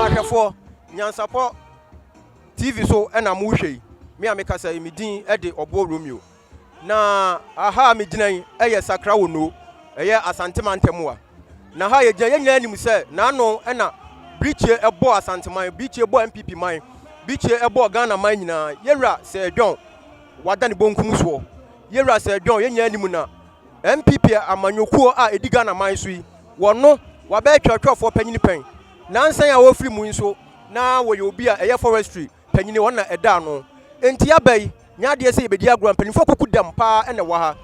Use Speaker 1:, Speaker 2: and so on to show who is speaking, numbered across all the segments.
Speaker 1: Ɔyerahwɛfoɔ, Nyansapɔ TV so na mo rehwɛ yi. Me a mekasa yi, me din de Ɔboɔ Romeo. Na aha a megyina yi yɛ Sakra Wono, ɛyɛ Asante mantam a. Na ha yɛgyina yɛn nyinaa nim sɛ n'ano na Birikye bɔ Asanteman, Birikye bɔ NPP man, Birikye bɔ Ghana man nyinaa. Yɛwura Sir John, wada ne bonkum soɔ. Yɛwura Sir John, yɛn nyinaa nim na NPP amanyɔkuo a ɛdi Ghana man so yi, wɔn no, wabɛyɛ twerɛtwerɛfoɔ panyini pɛn. Nansa yi a ɔrefiri mu yi nso, na ɔyɛ obi a ɛyɛ forestry panyini, wɔn na ɛda ano. Enti aba yi, nyɛ adeɛ sɛ yɛbɛdi agorɔ, mpanimfoɔ kuku dam pa ara na ɛwɔ ha.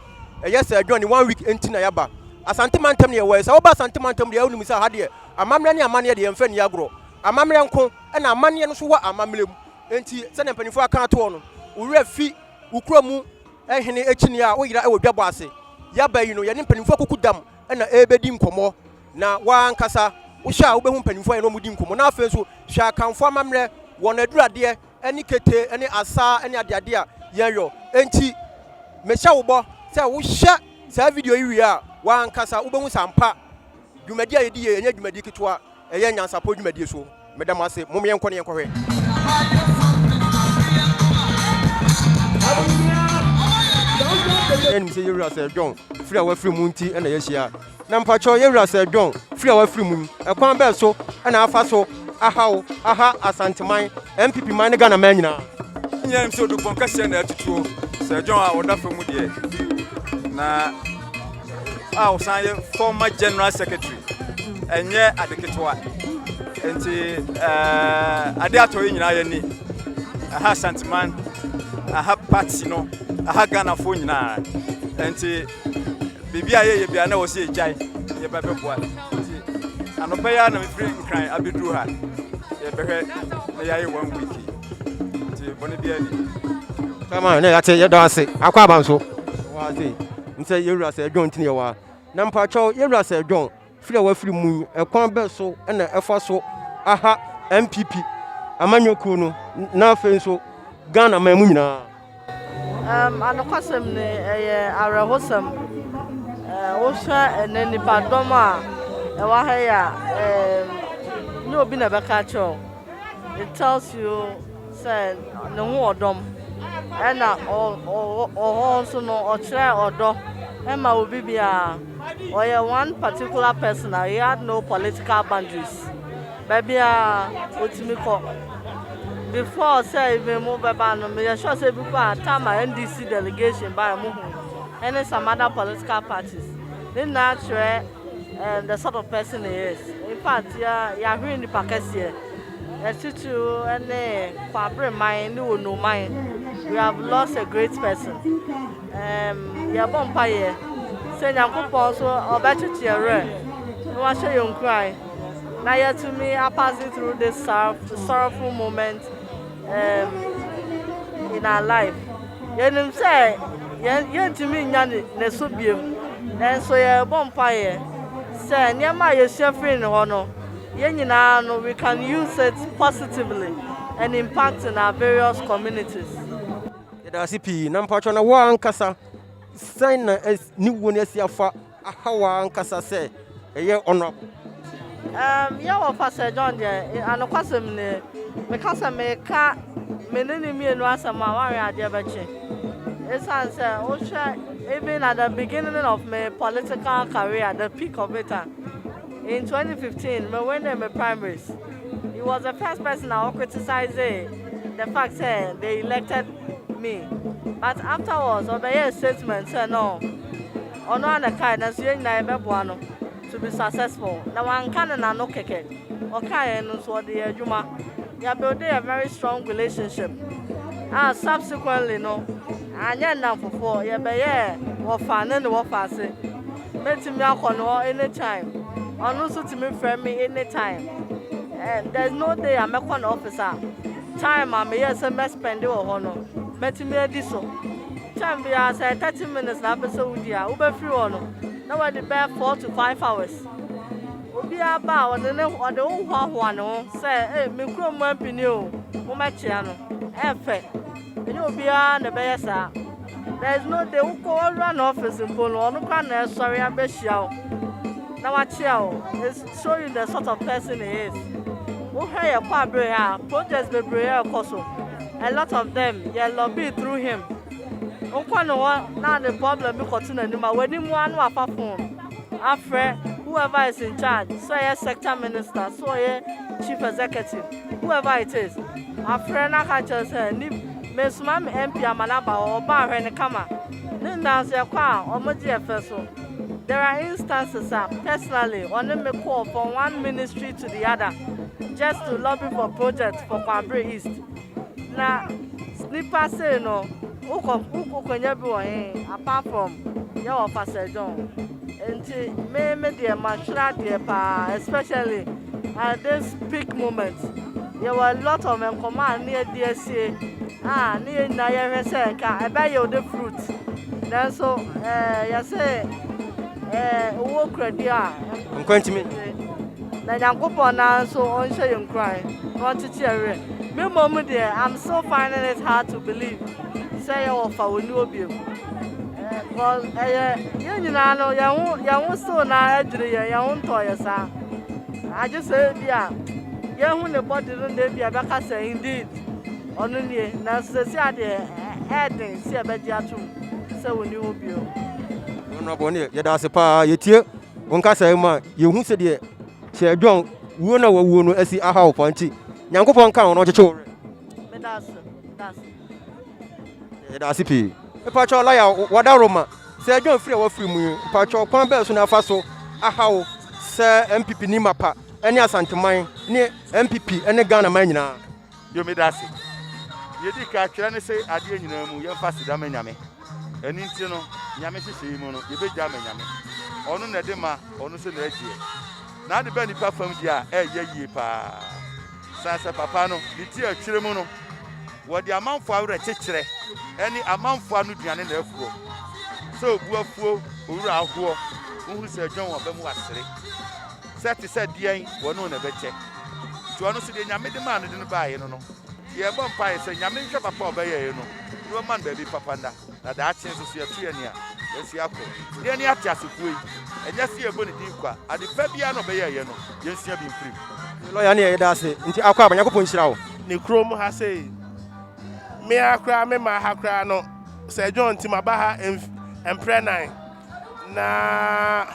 Speaker 1: Ɛyɛ sɛ adwane one week nti na yɛaba. Asante mantam na yɛwɔ yi, sɛ woba Asante mantam deɛ a wonim sɛ aha deɛ, amammerɛ ne amanneɛ deɛ yɛmfa nni agorɔ. Amammerɛ nko, ɛna amanneɛ no nso wɔ amammerɛ mu. Enti sɛdeɛ mpanimfoɔ aka atoɔ no, wo werɛ fi wo kuro mu, Hene akyinnye a woyera wɔ dwabɔ ase. Yɛaba yi no, yɛne mpanimfoɔ akuku dam na ɛrebɛdi nkɔmmɔ. Na w'ankasa wohwɛ a wobɛhu mpanimfoɔ a yɛne wɔn redi nkɔmmɔ. Na afei nso, hwɛ Akanfoɔ amammerɛ, wɔn aduradeɛ ne kete ne asaa ne adeade a yɛyɔ. Enti mehyɛ wo bɔ sɛ wohwɛ saa video yi wie a, w'ankasa wobɛhu sɛ ampa dwumadi a yɛdi yei nyɛ dwumadi ketewa. ɛyɛ nyansapɔ dwumadie so. Meda mo ase. Mom yɛnkɔ na yɛnkɔhwɛ. Yɛn anim sɛ yɛwura Sir John firi a wafiri mu nti na yɛahyia ha. Na mpakyɛw yɛwura Sir John firi a wafiri mu yi, ɛkwan bɛn so na afa so ahaw, aha Asanteman, NPP man ne Ghana man nyinaa? Yɛn anim sɛ odupɔn
Speaker 2: kɛseɛ na atutuo Sir John a ɔda fam mu deɛ. Na. a ɔsan yɛ former general secretary ɛnyɛ ade ketewa nti eh, ade atɔ yi nyinaa yɛni aha santeman aha party no aha ghanafoɔ nyinaa nti biribi a yɛyɛ bia na wɔ sɛ yɛgyae yɛba bɛboa nti anɔpa yi a na mefiri nkran abɛduru ha yɛbɛhwɛ na yɛayɛ one week nti bɔne biaa ni kama ne
Speaker 1: yɛte yɛdɔ ase akɔ aba nso Nsɛ yɛwura sɛ John nti na yɛwɔ ha. Na mpakyɛw yɛwura sɛ John firi a wafiri mu yi ɛkwan bɛ so na ɛfa so aha NPP amanyɔ kuo no na afei nso Ghana man mu nyinaa. Um,
Speaker 3: anokwasɛm ne ɛyɛ awerɛhosɛm wohwɛ ɛnɛ nnipadɔm a ɛwɔ ha yi a um, nyɛ obi na ɛbɛka kyerɛ it tells you Sɛ ne ho ɔdɔ m'. Ɛna ɔ hɔ nso no ɔkyerɛɛ ɔdɔ ma obi biara. Ɔyɛ one particular person a he had no political boundaries. Baabiara otumi kɔ. Before sɛ even mo bɛba no meyɛ sure sɛ ebi koraa a time a NDC delegation baeɛ mo hu ɛne some other political parties. Ne nyinaa kyerɛ the sort of person he is. Infact yɛahwere nnipa kɛseɛ. Atitiriw ne Kwabre man ne Wonu man we have lost a great person um yɛbɔ mpaeɛ sɛ Nyankopɔn nso ɔbɛkyekye yɛn werɛ na wahyɛ yɛn nkuran na yɛatumi a passing through this sorrowful moment um in our life yɛnim sɛ yɛn yɛntumi nya ne so biom nanso yɛbɔ mpaeɛ sɛ nneɛma a yɛsua firi ne hɔ no Yɛn nyinaa no we can use it positively and impact in our various communities. Yɛda
Speaker 1: ase pii na mpakyɛ na wo ankasa sɛn na ne wuo no asi afa aha wo ankasa sɛ ɛyɛ honorable? Um,
Speaker 3: yɛ wɔ Pastor John deɛ anokwasɛm ne meka sɛ meka me ne ne mmienu asɛm a wanwe adeɛ bɛkye ɛsiane sɛ wohwɛ even at the beginning of my political career the peak of it a In twenty fifteen, me winee me primaries. He was the first person a ɔ criticizee the fact sɛ they elected me. But afterwards, ɔ bɛ yɛɛ statement sɛ no, ɔno ara na ɛkae nanso yɛn nyinaa yɛ bɛ boa no to be successful. Na wanka ne n'ano kɛkɛ. Ɔkaeɛ no nso, ɔde yɛɛ adwuma. Yɛ buildee a very strong relationship a subsequently no, anyɛ nnamfofoɔ, yɛ bɛ yɛɛ wɔfa ne ne wɔfa ase. Mɛtumi akɔ ne hɔ anytime, ɔno nso tumi frɛ me anytime and there's no day a mɛkɔ ne office a time a meyɛɛ sɛ mɛ spend wɔ hɔ no mɛtumi adi so. Time biara sɛ ɛyɛ thirty minutes na apɛ sɛ wodi a, wobɛfiri hɔ no na wadi bɛyɛ four to five hours. Obiara ba a ɔde ne ɔde wo hoahoa ne ho sɛ ee me kurom mampini o, mommɛkyea no. Ɛyɛ fɛ. Ɛnyɛ obiara na ɛbɛyɛ saa. There is no day wokɔ w'awura no office mpo no, ɔno koraa na ɛsɔre abɛhyia wo na wakyea wo. It show you the sort of person he is. Wohwɛ yɛn kɔ abere ha a, projects bebree ɛrekɔ so. A lot of them, yɛ lobby through him. Wokɔ ne hɔ na ade problem bi kɔto n'anim a, w'anim ara na wafa phone afrɛ whoever is in charge, sɛ ɔyɛ sector minister, sɛ ɔyɛ chief executive. Whoever it is, afrɛ na ka kyerɛ no sɛ nim, mesoma me MP ama no aba hɔ, ɔba a hwɛ no kama. Ne nyinaa nso yɛkɔ a ɔmo gye yɛ fɛ so. There are instances a personally ɔne me kɔɔ from one ministry to the other just to lobby for project for Kwabre East. Na nipa sei no wokɔ wokonya bi wɔ he apart from yɛwɔ Pastor John. Nti me me deɛ mahwere adeɛ paa especially at this peak moment yɛwɔ a lot of nkɔmɔ a ne yɛde asie a ne yɛn nyinaa yɛhwɛ sɛ nka ɛbɛ yield the fruit nanso ɛɛ yɛse ɛɛ owó kuradi a nkwantumi
Speaker 1: na
Speaker 3: nyankopɔn naa nso ɔnhyɛ yɛn nkuran na ɔnkyekye yɛn werɛ me mmom deɛ i'm still finding it hard to believe sɛ yɛwɔ fa wɔ ni obiem ɛɛ ɛyɛ yɛn nyinaa no yɛn ho yɛn ho still na adwiri yɛn yɛn ho ntɔɔ yɛ saa. Agye sɛ ebia yɛahu ne bɔde no na ebia ɛbɛka sɛ indeed ɔno nie, nanso seesei a deɛ ɛyɛ den sɛ yɛbɛgye atom sɛ wɔnni hɔ bio. Honorable
Speaker 1: Ɔne, yɛda ase paa yɛtie wo nkasa yi ma yɛhu sɛ deɛ sɛ John wuo na wawuo no asi aha wo paa nti Nyankopɔn nka ho na ɔkyekye wo werɛ. Meda ase, meda ase. Yɛda ase pii. Mepa kyɛw lɔya wada Roma. Sɛ yɛdwen afiri a wɔafiri mu yi, mpakyɛw kwan bɛn so na afa so ahaw sɛ NPP ne Mapa ne Asanteman ne NPP ne Ghana man nyinaa? Yo, meda ase.
Speaker 4: Nea edi kan, twerɛ no se adeɛ nyinaa mu yɛmfa aseda ma Nyame. Ɛno nti no, Nyame nhyehyɛe mu no, yɛbɛgya ama Nyame. Ɔno na ɛde ma, ɔno nso na ɛgyeɛ. N'ade ba nnipa fam deɛ a, ɛyɛ yie paa. Sase papa no, ne ti a ɛtwere mu no, wɔde amanfoɔ awerɛkyekyerɛ ne amanfoɔ ano duane na afuo. Sɛ obu afuo owura ahoɔ, wohu sɛ adwan wɔn aba mu asere, sɛ te sɛ deɛn wɔne na ɛbɛkyɛ. Nti ɔno nso deɛ Nyame de maa no de no baaye no no, yɛbɔ mpaeɛ sɛ Nyame nhwɛ papa a ɔbɛyɛeɛ no na ɔma no baabi papa nna. na daakye nso so yɛto yɛn ani a, yɛnso yɛakɔ. Deɛn ne ateasefoɔ yi? Ɛnyɛ sɛ yɛbɔ ne din kwa. Ade pa biara no ɔbɛyɛɛ yɛ no, yɛnsua bi mfiri mu. Lɔya ne yɛ yɛda ase
Speaker 1: nti akɔ aba nyankopɔn nhyira wo. Ne kurom ha sei
Speaker 5: me ara koraa me maa ha koraa no sɛ John nti maba ha mf mprɛ nan na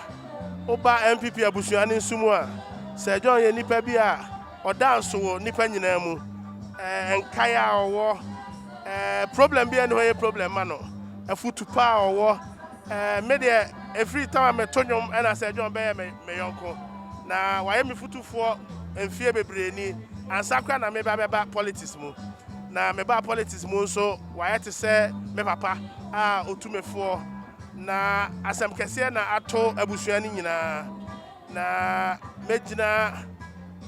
Speaker 5: woba NPP abusua no nso mu a Sir John yɛ nipa bi a Ɔdaa nso wɔ nnipa nyinaa mu. Ɛɛ, nkae a ɔwɔ, ɛɛ, problem bi a ɛne hɔ yɛ problem ma no. Afutu pa a ɔwɔ. Ɛɛ, me deɛ, ɛfiri tam a meto nnwom ɛna sɛ John bɛyɛ me, me yɔnko. Na wayɛ me futufoɔ mfeɛ bebree ni. Ansa koraa na meba bɛba politics mu. Na mebaa politics mu nso, wayɛ te sɛ me papa a ɔtu me foɔ. Na asɛm kɛseɛ na ato abusua no nyinaa. Na mɛgyina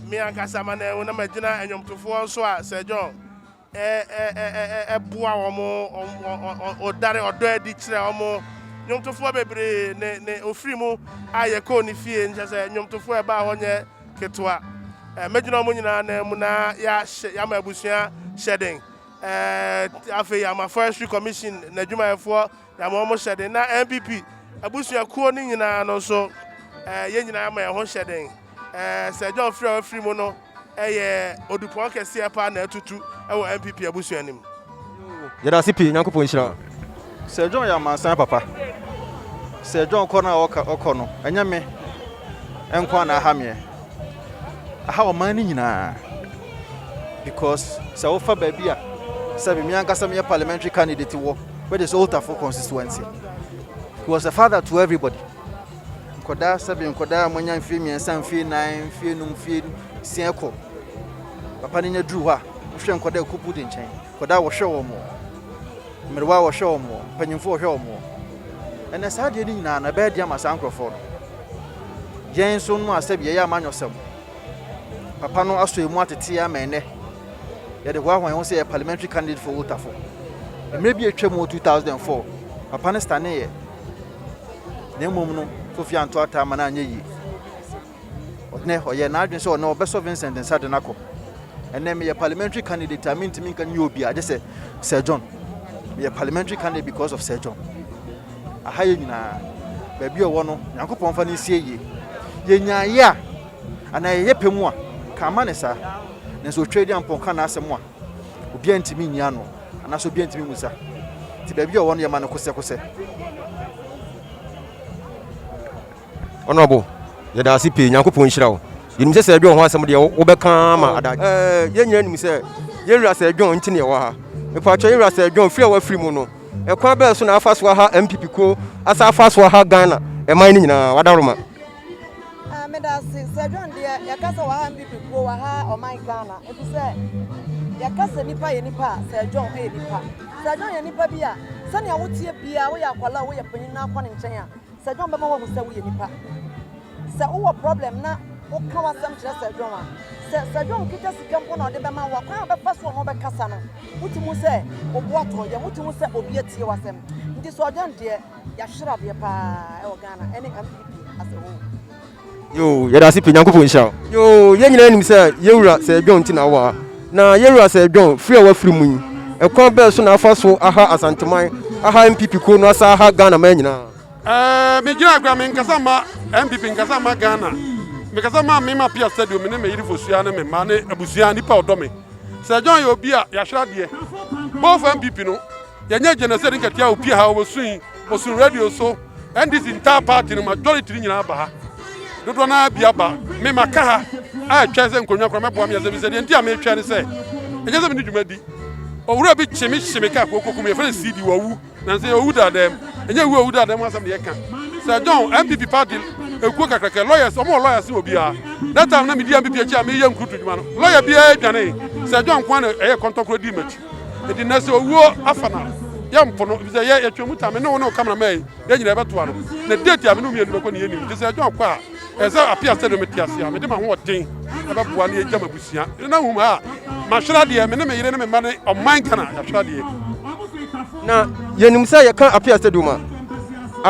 Speaker 5: me ankasa amanɛɛ ho na magyina ɛnwomtofoɔ nso a Sir John ɛboa wɔn ɔdare ɔdɔ adi kyerɛ wɔn nnwomtofoɔ bebree ne ne ofiri mu a yɛkɔɔ ne fie nkyɛ sɛ nnwomtofoɔ ɛbaa hɔ nyɛ ketewa mɛgyina wɔn nyinaa nan mu na yɛahyɛ yɛama abusua hyɛden afei ama forestry commission n'adwumayɛfoɔ Na ma wɔn hyɛ den. Na NPP abusua kuo no nyinaa no nso yɛn nyinaa ma yɛn ho hyɛ den. Sir John firi a wafiri mu no yɛ odupɔn kɛseɛ paa na atutu wɔ NPP abusua no mu. Yɛda ase
Speaker 1: pii Nyankopɔn nhyira wo. Sir John yɛ
Speaker 2: amansan papa. Sir John kɔ no a ɔkɔ no ɛnyɛ me nkoa na aha meɛ. Aha ɔman no nyinaa because sɛ wofa baabi a sɛbi me ankasa meyɛ parliamentary candidate wɔ which is Oltafo constituency he was a father to everybody nkɔdaa sɛbi nkɔdaa a moanya mfie mmiɛnsa mfie nan mfie num mfie nsia kɔ papa no nya duru hɔ a wohwɛ nkɔdaa kupu de nkyɛn Nkwadaa a wɔhwɛ wɔn, mmerewa a wɔhwɛ wɔn, mpanimfoɔ a wɔhwɛ wɔn. Ɛnna saa adeɛ no nyinaa no, ɛbɛyɛ den ama saa nkurɔfoɔ no. Yɛn nso no a sɛbi yɛyɛ amanyɔsɛm. Papa no asɔ emu atete ama ɛnɛ. Yɛde hoahoa yɛn ho sɛ yɛ parliamentary candidate for wotafo. Mmerɛ bi atwa mu 2004, papa no staneeɛ. Na mmom no, Kofi anto ataa ma no anyɛ yie. Ɔnnɛ, ɔyɛɛ n'adwene sɛ ɔnnɛ ɔbɛsɔ Vincent nsa de no akɔ. Ɛnnɛ, meyɛ parliamentary candidate a mentumi nka nyɛ obi a, gye sɛ Sir John. Meyɛ parliamentary candidate because of Sir John. Aha yɛ nyinaa, baabi a ɔwɔ no, Nyankopɔn fa no nsie yie. Yɛnya yɛ a, anaa yɛyɛ pɛ mu a, ka ama
Speaker 6: ne saa. Nanso otwa di ampɔn ka n'asɛm a, obiara ntumi nyi ano, anaasɛ obiara ntumi mu sa. Nti baabi a ɔwɔ no, yɛma no kosɛkosɛ.
Speaker 1: Honourable, yɛda ase pii. Nyankopɔn nhyira wo. Yɛnim sɛ Sir John ho asɛm deɛ wobɛka ama ada. Ɛɛ, yɛn nyinaa nim sɛ yɛn wura Sir John nti na yɛwɔ ha. Mepaatwa yɛn wura Sir John firi a wafiri mu no, ɛkwan bɛn so na afa so aha NPP kuo, asan afa so aha Ghana ɛman no nyinaa? W'adaworoma. Ɛɛ,
Speaker 7: meda ase. Sir John deɛ, yɛka sɛ waha NPP kuo, waha ɔman Ghana, efisɛ yɛka sɛ nipa yɛ nipa a, Sir John yɛ nipa. Sir John yɛ nipa bi a, sɛnea woteɛ biara, woyɛ akwadaa o, woyɛ panyin na kɔ ne nkyɛn a, Sir John bɛma wahu sɛ woyɛ nipa. Sɛ wowɔ problem na woka w'asɛm kyerɛ Sir John a, sɛ Sir John kita sika mpo na ɔde bɛma wo a, kwan a ɔbɛfa so ɔne wo bɛkasa no, wotumi hu sɛ wo bo atɔ yam, wotumi hu sɛ obi atie w'asɛm. Nti Sir John deɛ, yɛahwere adeɛ paa wɔ Ghana ne mpp as a whole. Yoo
Speaker 1: yɛda ase pii Nyankopɔn nhyira wo. Yoo yɛn nyinaa nim sɛ yɛn wura Sir John ti na awɔ ha. Na yɛn wura Sir John firi a wafiri mu yi ɛkwan bɛn so na afa so aha Asanteman, aha NPP kuo no asan aha Ghana man nyinaa? Ɛɛ me gyina koraa me
Speaker 8: nkasa mma NPP nkasa mma Ghana me kasa mma me ma pia stadium me ne me yere fosua ne me mma ne abusua nipa ɔdɔ me Sir John yɛ obi a yɛahwere adeɛ both NPP no yɛnyɛ genocide nkatia opie ha ɔwɔ sun yi ɔsun radio so NDC ntaa party no majority no nyinaa aba ha dodoɔ naa bi aba me ma ka ha a ɛtwa sɛ nkonnwa kora mɛboa me asɛm bi sɛ deɛ nti a metwa ne sɛ ɛnyɛ sɛ mene dwuma di owura bi kye me hye me ka kooko kum yɛfrɛ no cd wawu nanso yɛwu daadam ɛnyɛ wu awu daadam asɛm deɛ ɛka sɛ john mpp party ɛkuo kakrakɛ lawyers ɔmo wɔ lawyers wɔ biara that time na medi mpp akyi a meyɛ nkuruto dwuma no lawyer biara dwane sɛ john kwan na ɛyɛ kɔntɔkorɔ di m'akyi enti na sɛ owuo afa no a yɛmpo no efisɛ yɛ yɛtwa mu ta me ne wo ne wo cameraman yi yɛn nyinaa yɛbɛtoa no na date a me ne wo mmienu bɛkɔ ne yɛnim nti sɛ john kɔ a ɛsɛ sɛ apia sɛdeɛ mete ase a mede m'ahoɔden ɛbɛboa ne yɛgya m'abusua ne na hum a mahwere adeɛ me ne me yere ne me mma ne ɔman ghana yɛahwere adeɛ na
Speaker 1: yɛnim sɛ yɛka apia stadium a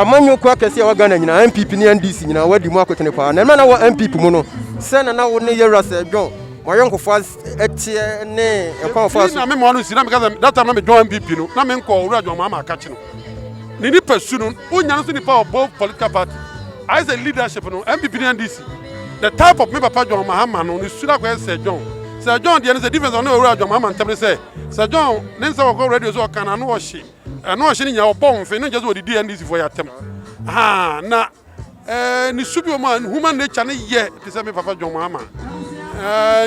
Speaker 1: amanyɔ kɔ akɛse a wagana nyinaa mpp ne ndc nyinaa wadi mu akotene paa na ɛma na wɔ mpp mu no sɛ na na wo ne yɛwura sɛ john wɔayɔnkofoɔ ɛteɛ ne ɛkwan a ɔfaa so. na mema no nsi na meka sɛ
Speaker 8: data na medwɔn MPP no na menkɔ owura dwɔn maa maaka kye no ne nipa su no wonya no so nipa wɔ both political party ayɛ sɛ leadership no MPP ne NDC the type of me papa dwɔn mahama no ne su no akɔyɛ sɛ dwɔn sɛ dwɔn deɛ no sɛ difference ɔne owura dwɔn mahama ntɛm ne sɛ sɛ dwɔn ne nsɛ wɔkɔ radio so ɔka na ano ɔhye ɛno ɔhye no nyinaa ɔbɔ mfe no nkyɛ sɛ ɔdidi NDC foɔ yɛ atɛm haa na ne su bi wɔn a human nature no yɛ te sɛ me papa John Mahama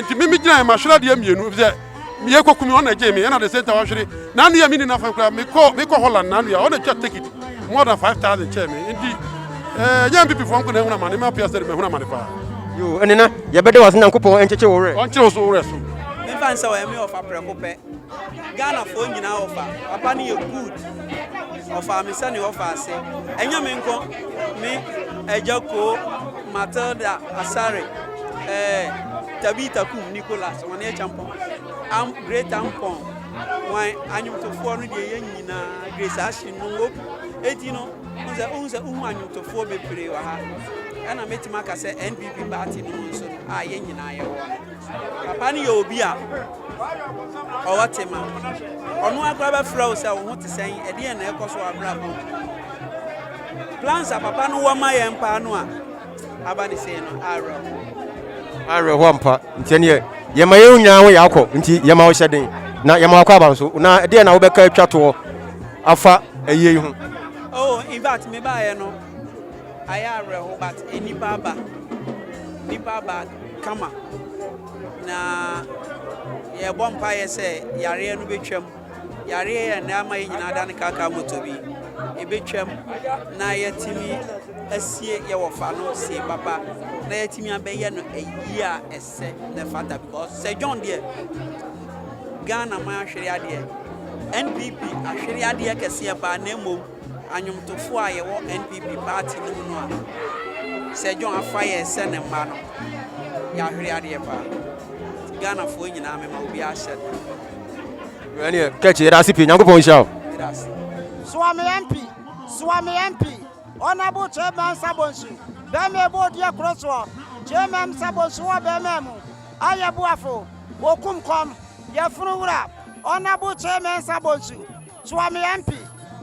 Speaker 8: nti me megyina mahwere adeɛ mmienu sɛ meyɛ kɔkum ɔna agye me ɛna de sɛ nta wahwere n'anua me ni nafa koraa mekɔ mekɔ Holland n'anua ɔna twa ticket more than five thousand kyɛɛ me nti ɛnyɛ mpipifoɔ nko na ɛhunu amane ma apia sɛ de mahunu amane paa yo ɛnena
Speaker 1: yɛbɛde wase nyankopɔn ɛnkyekye wo werɛ ɔnkyere wo so wo werɛ so
Speaker 8: mfa nsɛ wɔ ɛme
Speaker 9: ɔfa prɛko pɛ Ghana foɔ nyinaa ɔfa papa no yɛ good ɔfaa me sɛnea ɔfa ase ɛnyɛ me nko me agya koo Matilda Asare ɛɛ eh, Tabita Kum Nicholas wɔn yɛ champɔn am great ampɔn wɔn anyomtofoɔ no deɛ yɛ nyinaa Grace Ashley no wɔ eti no ohun sɛ ohun sɛ ohun anyomtofoɔ bebree wɔ ha ɛna mɛtumi aka sɛ NPP party no mu nso no a yɛ nyinaa yɛ wɔ no. Papa no yɛ obi a ɔwɔ tema. Ɔno ara koraa bɛfrɛ wo sɛ wo ho te sɛn, ɛdeɛn na ɛrekɔ so wɔ abrabɔ mu. Plans a papa no wɔ ma yɛn paa no a aba ne sei no, awerɛhoɔ.
Speaker 1: Awerɛhoɔ ampa. Nti ɛneɛ yɛma yɛn nyinaa ho yɛ akɔ. Nti yɛma wo hyɛ den na yɛma wakɔ aba nso. Na ɛdeɛn na wobɛka atwa toɔ afa ayie yi ho? Oh, in fact,
Speaker 9: mebaeɛ no. Ayɛ awerɛhow but nnipa aba. Nnipa aba kama. Na yɛrebɔ mpaeɛ sɛ yareɛ no bɛtwam. Yareɛ yɛ na ama yɛn nyinaa adane kaakaa moto bi. Ɛbɛtwam na yɛatumi asie yɛn wɔfa no sie papa na yɛatumi abɛyɛ no ayie a ɛsɛ na ɛfata because sɛ John deɛ Ghana man ahwere adeɛ. NPP ahwere adeɛ kɛseɛ paa na mmom Anwomtofoɔ a yɛwɔ NPP party no mu no a Sir John afa yɛ sɛ ne mma no, yɛahwere adeɛ paa. Nti Ghanafoɔ nyinaa mema obiara hyɛ da.
Speaker 1: Wei ɛneɛ Kɛkye yɛda ase pii Nyankopɔn nhyira wo. Meda ase. Soa me MP,
Speaker 10: soa me MP, Honourable Chairman Msa Bonsu, bɛɛma ɛbɔ odiɛ koro soɔ, Chairman Msa Bonsu wɔ bɛɛma mu, ayɛ boafo, wɔkum kɔm, yɛfunu wura, Honourable Chairman Msa Bonsu. Suame Ampy,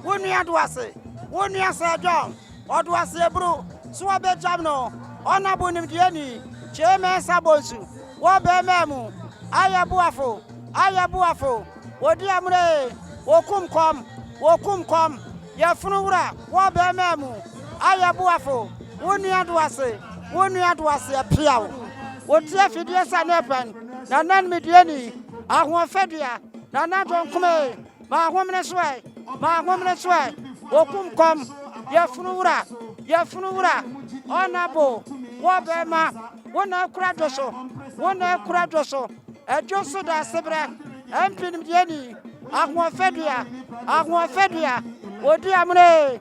Speaker 10: wo nua Duase, wo nua Sir John Oduase Aburo, so wɔbɛgyam no, Honourable Nimdeɛni Kyei Mensah Bonsu, wɔ bɛɛmaa mu, Ayɛ boafo, ayɛ boafo, wɔdi amuna ee, wɔkum kɔm, wɔkum kɔm, Yɛfunu wura, wɔ bɛɛmaa mu, Ayɛ boafo, wo nua Duase, wo nua Duase Apiaw, wɔti afidie sa ne ɛpɛn, Nana Nimdeɛni, Ahoɔfɛdua. Nana Donkum ee, m'ahomene so ɛ, m'ahomene so ɛ, okum kɔm, yɛfunu wura, yɛfunu wura, ɔna bo, wɔ bɛɛma, wo na akura dwo so, wo na akura dwo so, adwo so da aseberɛ, ɛmpinimdeɛ ni, ahoɔfɛdua, ahoɔfɛdua, odi amono ee.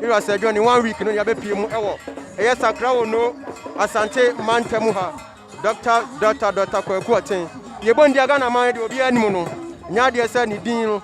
Speaker 1: Era sɛ adwani one week no yɛbɛ pie mu ɛwɔ ɛyɛ sakra wo no asante manta mu ha dɔkta dɔkta dɔkta kwaku ɔten yɛbɔ ndi aga na man de obi anim no nya adeɛ sɛ ne din no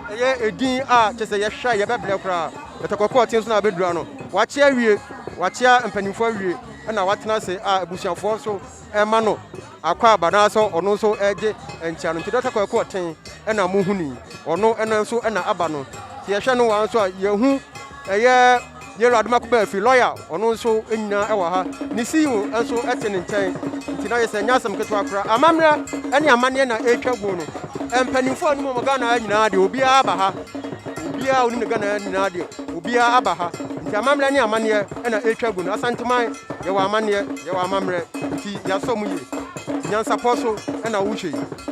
Speaker 1: ɛyɛ edin a kyɛ sɛ yɛhwɛ yɛbɛ brɛ koraa dɔkta kwaku ɔten so na abɛdura no wakyea wie wakyea mpanimfoɔ awie ɛna watena se a abusuafoɔ so Ɛma no akwaaba anaasɛ ɔno nso gye nkyea no nti Dɔkta Kwaku Ɔten na mohunii. Ɔno ɛnnɛ nso na aba no. Nti yɛhwɛ no waa nso a yɛhu ɛyɛ Yellow Adomako Baafi, lɔya, ɔno nso nyinaa wɔ ha. Ne CEO nso te ne nkyɛn. Nti na ayɛ sɛ ɛnyɛ asɛm ketewa koraa. Amammerɛ ne amanneɛ na ɛretwa guo no. Mpanimfoɔ a wonim wɔn Ghana ha nyinaa deɛ obiara aba ha. Obiara a wonim no Ghana ha nyinaa deɛ obiara aba ha. Nti amammerɛ ne amanneɛ. na ɛretwa agu no, Asanteman, yɛwɔ amanneɛ, yɛwɔ amammerɛ, nti yɛasɔ mu yie. Nyansapɔ so na wohwɛ yi.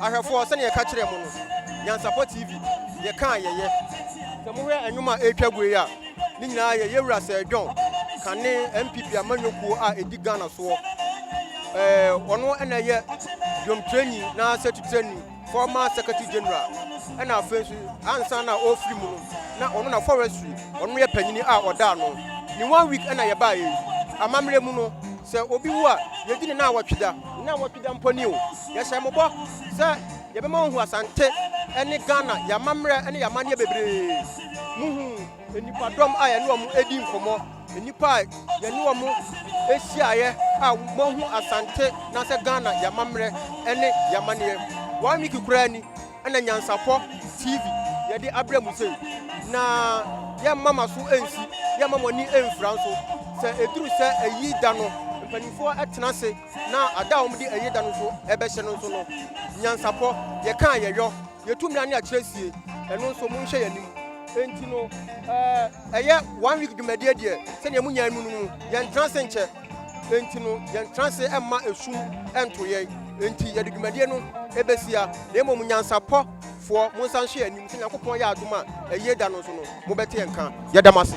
Speaker 1: ahwɛfoɔ sɛdeɛ yɛka kyerɛ mu no nyansapɔ tv yɛkaa yɛyɛ sɛ mohwɛ ɛnwom a ɛretwa gu yi a ne nyinaa yɛyɛ wura sɛ john kane mpp amanyɔkuo a ɛdi ghana soɔ ɛɛ ɔno ɛna ɛyɛ dwomtrani na sɛ tutrani former secretary general, ɛna afei nso ansa na ɔrefiri mu no na ɔno na forestry ɔno yɛ panyini a ɔda ano ne one week ɛna yɛbaa yɛ amammerɛ mu no sɛ obi wu a yɛdi ne na awɔtwe da ne awɔtwe da mpo ni o yɛhyɛ mo bɔ sɛ yɛbɛma wɔhu asante ɛne Ghana yɛ amammerɛ ɛne yɛ amanneɛ bebree muhu Nnipadɔm a yɛne wɔn di nkɔmmɔ, nnipa a yɛne wɔn hyiaeɛ a wɔahu Asante na sɛ Ghana yɛn amammerɛ ne yɛn amanneɛ. One week koraa ni na Nyansapɔ TV yɛde abrɛ mu sei. Na yɛmma mo aso nsi, yɛmma mo ani mfira nso. Sɛ ɛduru sɛ ayi da no, mpanimfoɔ tena ase na ada a wɔde ayi da no nso bɛhyɛ no nso no, Nyansapɔ yɛka a yɛyɔ. Yɛtu mmara ne akyerɛsie, ɛno nso monhyɛ yɛn anim. Enti no, ɛyɛ one week dwumadie deɛ, sɛdeɛ mo nyaa mu no mu, yɛntena ase nkyɛ. Enti no, yɛntena ase mma esum nto yɛn. Enti yɛde dwumadie no bɛsia, na mmom nyansapɔ foɔ, monsan nhyɛ yɛn anim, sɛ Nyankopɔn yɛ adom a, ayie da no nso no, mobɛte yɛn nka. Yɛda mo ase.